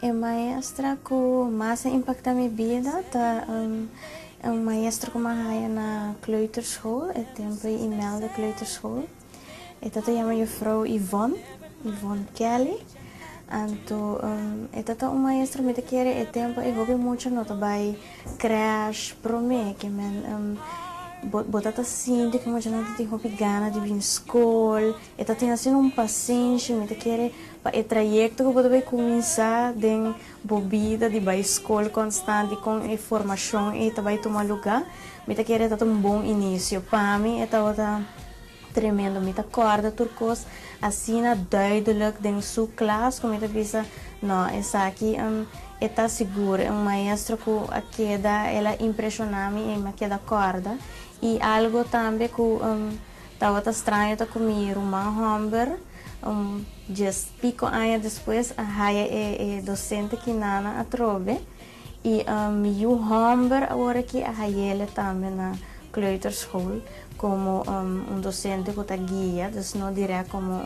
E maestra ku mas a impakta mi bida ta un maestra ku mi a haya na kleuterschool, e tempu ei Imelda Kleuterschool. E tata yama Jufrou Yvonne, Yvonne Kelly. Anto e tata un maestra ku mi ta kere e tempu ei hopi mucha no ta bai krèsh promé, ke men bo bo tata sinti ku mucha no ta tin hopi gana di bin skol. E ta tin asina un pasenshi, mi ta kere. Pa e trayekto ku bo ta bai kuminsá den bo bida di bai skol konstant i kon e formashon ei ta bai tuma lugá, mi ta kere e ta un bon inisio. Pa mi e tabata tremendo. Mi ta kòrda tur kos asina duidelik den su klas ku mi ta bisa, Nò, esaki e ta sigur. E un maestro ku a keda, el a impreshoná mi i mi a keda kòrda. I algu tambe ku. Tabata straño ta ku mi ruman hòmber. Un dies piko aña despues a haya e dosente kinana atrobe i mi yu hòmber awor aki a hayele tambe na kleuterschool komo un dosente ku ta guia, dus no dirèk komo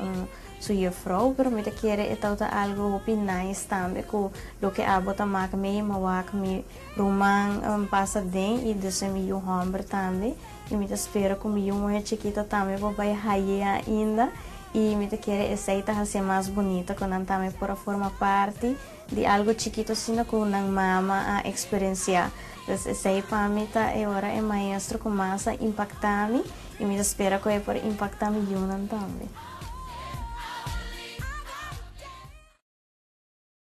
su jufrou, pero mi ta kere e tabata algu hopi nice tambe ku loke abo ta mak mei mawak mi ruman pasa den i dus e mi yu hòmber tambe. Y mi ta spera cu mi yu muhe chikito tambe por bay haye ainda y mi ta kere esey ta hacié mas bunito cu nan tambe por a forma parti di algo chikito asina cu nan mama a experiencia. Pues esey pa mi ta e ora e maestro cu mas a impacta mi y mi ta spera cu e por impacta mi yunan tambe.